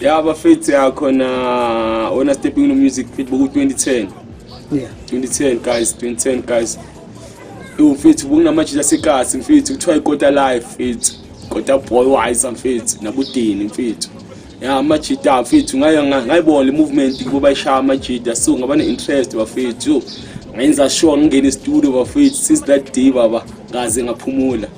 ya bafethu ya khona ona stepping no music fit boku 2010 yeah 2010 guys 2010 guys yo mfethu kunamajita sekasi mfethu kuthiwa ikota life mfethu kota boy wise mfethu nabudini mfethu ya amajita mfethu ngaye ngayibona le movement kubo bayishaya amajita so ngaba ne-interest bafethu ngenza sure ngingene estudio bafethu since that day baba kaze ngaphumula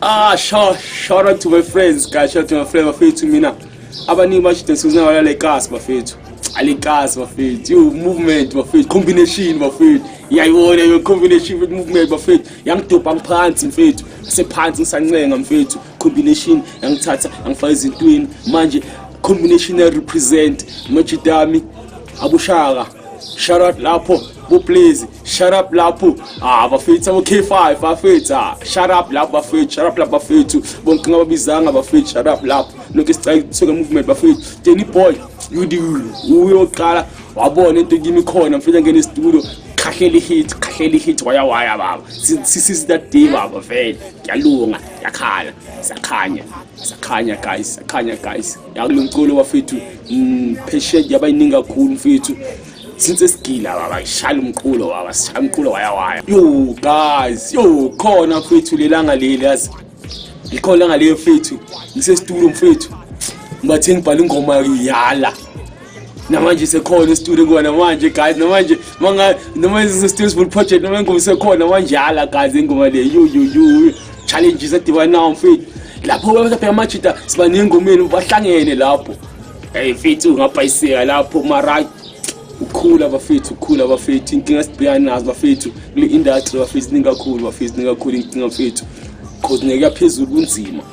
Ah, shout, shout out to my friends, guys. Shout out to my friends, bafethu mina. Abaningi bashide sikuze ngala le kasi bafethu. Ali kasi bafethu. You movement bafethu, combination bafethu. Iyayibona yo combination with movement bafethu. Yangidopa ngiphansi mfethu. Sephansi ngisancenga mfethu. Combination yangithatha yangifaka izintwini. Manje combination represent majidami abushaka Shut up lapho, bu please. Shut up lapho. Ah, bafethu abo K5 bafethu. Ah, shut up lapho bafethu. Shut up lapho bafethu. Bonke ngababizanga bafethu. Shut up lapho. Lokho isicela kusuka movement bafethu. Danny boy, you do. Uyoqala wabona into kimi khona mfethu ngene studio. Khahleli hit, khahleli hit waya waya baba. Sisi that day baba vele. Yalunga, yakhala. Sakhanya. Sakhanya guys, sakhanya guys. Yakulo mculo bafethu mm, phesheya yabayiningi kakhulu mfethu since sigila baba ishaya umqulo baba sishaya umqulo waya waya yo guys yo khona mfethu lelanga leli yazi ikhona ngaleyo mfethu ngisesitulo mfethu ngibathe ngibhala ingoma yala namanje sekhona isitudio ngoba namanje guys namanje manga noma izistudio project noma ingoma sekhona manjala guys ingoma le yu yu yu challenges adibana nawo mfethu lapho kwabasaphe amajita siba nengomeni bahlangene lapho hey mfethu ungabhayiseka lapho mara ukhula bafethu ukhula bafethu inkinga sibhekana nazo bafethu kule industry bafethu ningakhulu bafethu ningakhulu inkinga mfethu cause ngeke yaphezulu kunzima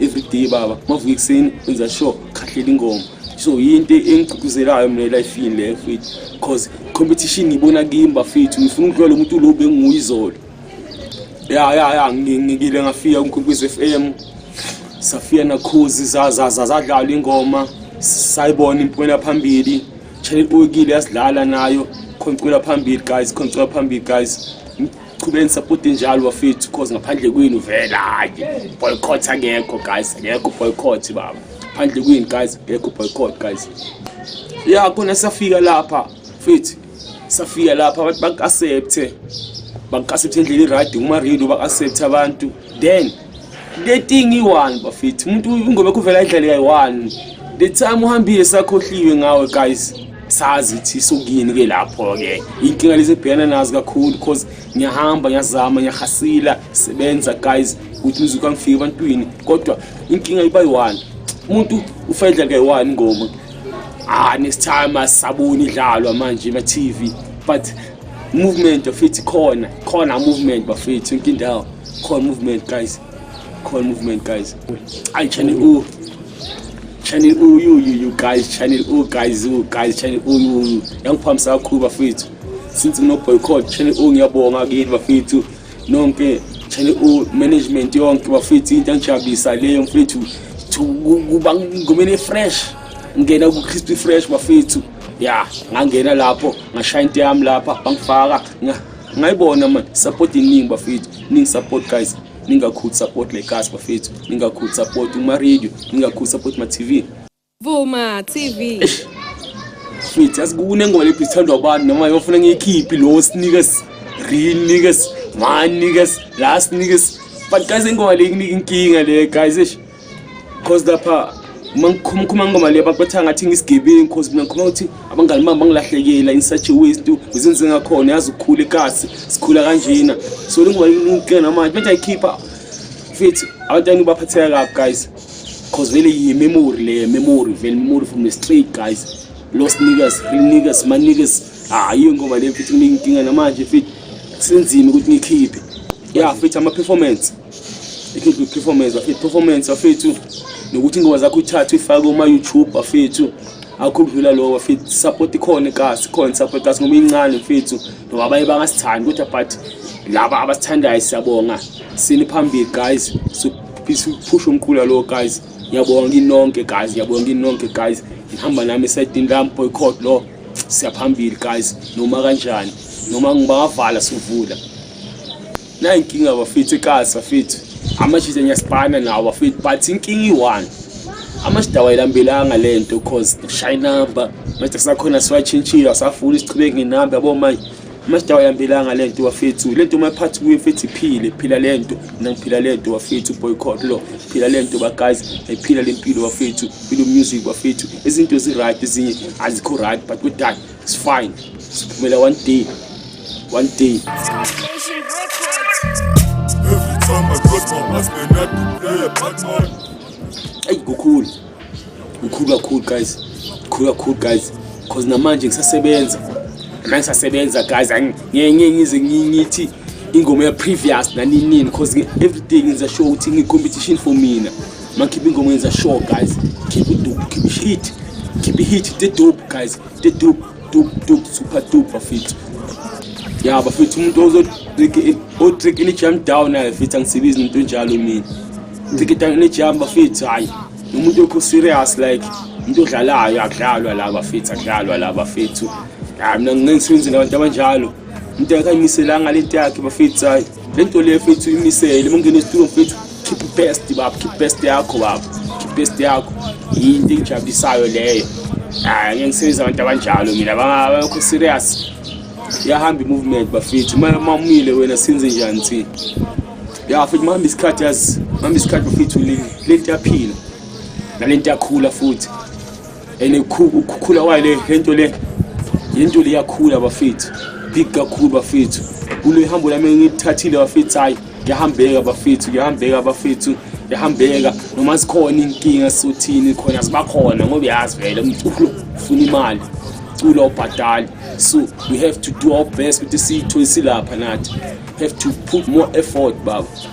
everyday baba mavuka ekuseni wenza sure khahlela ingoma so yinto engigqugquzelayo mina elifini leyo futhi because competition ngibona kimi bafethu ngifuna ukudlula lo muntu lo benguyizolo ya ya ya ngikile ngafika kunkwenkwiz f m safika nakhozi zadlala ingoma sayibona impumela phambili channel oyikile yasidlala nayo khonculela phambili guys khonculela phambili guys qhubeni support njalo bafethu because ngaphandle kwini uvela hayi boycott akekho guys akekho boycott baba phandle kwini guys akekho boycott guys ya kona safika lapha futhi safika lapha abantu baku-accepte baku-accepte endlela i-right uma read uba-accepte abantu then The thing iwani bafethu umuntu ingoba kuvela idlale kayi-one the time uhambile sakhohliwe ngawe guys sazi ukuthi sokuyini ke lapho-ke iy'nkinga lezi ebhekana nazo kakhulu because ngiyahamba ngiyazama ngiyahasila sebenza guys ukuthi uzuke angifike ebantwini kodwa inkinga iba yi-one umuntu ufuna idlale kayi-one ingoma ah next time asisaboni idlalwa manje ema-tv but movement bafethu khona khona movement bafethu yonke indawo khona movement guys khona movement guys ayi channel u channel u you you you guys channel u guys u guys channel u you yangiphamisa kakhulu bafethu since no boycott channel u ngiyabonga kini bafethu nonke channel u management yonke bafethu into angijabulisa leyo mfethu kuba ngomene fresh ngena ku crispy fresh bafethu ya ngangena lapho ngashaya into yami lapha bangifaka ngayibona manje support iningi bafethu ningi support guys ningakhulu support le cast bafethu ningakhulu support kuma radio ningakhulu support ma TV Vuma TV Sweet asikune ngoma lephi sithandwa abantu noma yofuna ngiyikhiphi lo sneakers real niggas man niggas last niggas but guys ingoma le inkinga le guys cause lapha uma ngikhumkhuma ngoma le abantu bathi angathi ngisigebengu cause mina ngikhuluma ukuthi abangani bami bangilahlekela in such a way into ngizenze ngakhona yazi ukukhula ikasi sikhula kanjena so lingoma ngicela namanje manje ayikhipha mfethu abantu anu baphatheka kabi guys cause vele yi memory le memory vele memory from the street guys lost niggas real niggas my niggas ah iyo ngoma le mfethu nginkinga namanje mfethu senzima ukuthi ngikhiphe yeah mfethu ama performance i-good performance bafethu performance bafethu nokuthi ingoma zakho uyithathe uyifake kuma-youtube bafethu akho kudlula lowo bafethu support ikhona kasi khona support kasi ngoba incane mfethu noma abanye bangasithandi kodwa but laba abasithandayo siyabonga sini phambili guys siphushe umqula lowo guys ngiyabonga kinonke guys ngiyabonga kinonke guys ngihamba nami esayidini lami boycott lo siyaphambili guys noma kanjani noma ngibavala sivula Nayi inkinga bafethu eKasi bafethu. Amashida ngiyaspana nawo bafethu but inkinga i-one. Amashida wayilambelanga lento cause shaya number. Manje sakhona siwachintshile asafuni sichubeke ngenamba yabo manje. Amashida wayilambelanga lento bafethu. Lento mayiphathi kuye mfethu iphile phila lento. Mina ngiphila lento bafethu boycott lo. Phila lento ba guys. Ngiphila lempilo bafethu. Phila music bafethu. Izinto zi right ezinye azikho right but we done. It's fine. Siphumela one day. One day. Every time I got my husband at the prayer, Batman. Hey, go cool. Go cool, go cool, guys. Cool, go cool, guys. Cause namanje ngisasebenza. Manje ngisasebenza, guys. Ngeke ngize ngithi ingoma ya previous na nini nini cause every day ngenza show ukuthi ngi competition for mina. Mangikhipha ingoma ngenza show, guys. Keep it dope, keep it hit. Keep it hit, the dope, guys. The dupe, dupe, dupe, super dupe bafethu. Ya bafethu umuntu ozotrick otrick ile jam down naye bafethu angisibizi into enjalo mina. Trick down ile jam bafethu hayi. Umuntu okho serious like umuntu odlalayo akudlalwa la bafethu akudlalwa la bafethu. Hayi mina ngeke ngisebenze nabantu abanjalo. Umuntu akayimiselanga lento yakhe bafethu hayi. le nto leyo fethu imisele mungena esitulo fethu keep best baba keep best yakho baba keep best yakho yinto engijabulisayo leyo hayi ngeke ngisebenza abantu abanjalo mina abangekho serious yahamba i-movement bafethu uma mamile wena senze njani thina ya futhi mahamba isikhathi yazi mahamba isikhathi bafethu le nto yaphila nale nto yakhula futhi and ukukhula kwayo le lento le yento le yakhula bafethu big kakhulu bafethu kulo ihambo lami ngithathile bafethu hayi ngiyahambeka bafethu ngiyahambeka bafethu ngiyahambeka noma zikhona inkinga sothini khona sibakhona ngoba yazi vele umculo ufuna imali umculo obhadali so we have to do our best ukuthi siyithoyisilapha nathi have to put more effort baba